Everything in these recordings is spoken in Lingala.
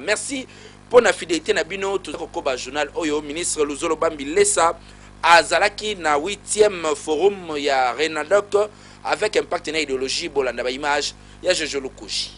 Merci pona fidelite na bino toza kokoba journal oyo ministre Luzolo Bambi Lesa azalaki na 8e forum ya Renadoc avec impact na ideologie bolanda ba image ya Jojo Lukushi.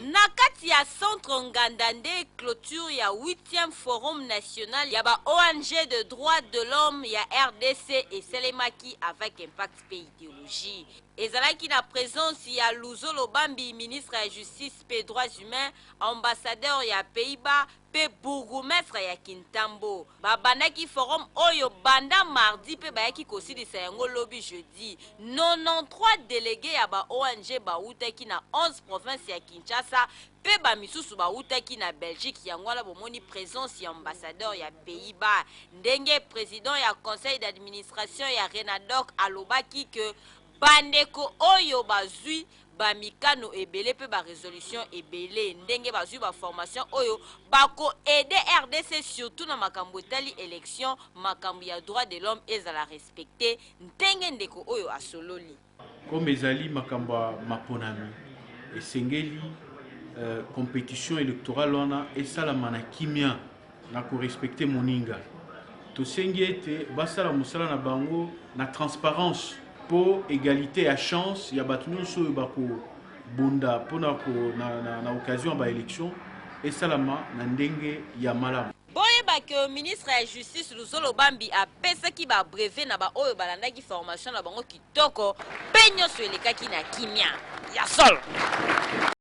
Na kati ya centre Nganda nde cloture ya 8e forum national ya ba ong de droit de l'homme ya rdc esalemaki avec impact pe ideologie ezalaki na presence ya Luzolo Bambi ministre ya justice mpe droits humains, ambassadeur ya Pays-Bas mpe bourgoumestre ya Kintambo babandaki forum oyo banda mardi mpe bayaki kosilisa yango lobi jeudi. 93 delegues ya ba ong bawutaki na 11 provinces ya Kinshasa mpe ba misusu bawutaki na Belgique, yango wana bomoni presence ya ambassadeur ya Pays-Bas. Ndenge president ya conseil d'administration ya Renadoc alobaki que bandeko oyo bazui ba mikano ebele pe ba resolutions ebele ndenge bazui ba formations oyo bako aider rdc surtout na makambo etali election makambo ya droit de l'homme ezala respecter ndenge ndeko oyo asololi. Comme ezali makambo ya maponami, esengeli competition electorale wana esalama na kimia. Na ko respecter moninga, tosengi ete basala mosala na bango na transparence mpo egalite ya chance ya bato nyonso oyo bakobunda mpo na na occasion ya ba elections esalama na ndenge ya malamu. Boyeba que ministre ya Justice Luzolo Bambi apesaki ba brevets na ba oyo balandaki formation na bango kitoko mpe nionso elekaki na kimia. Ya solo!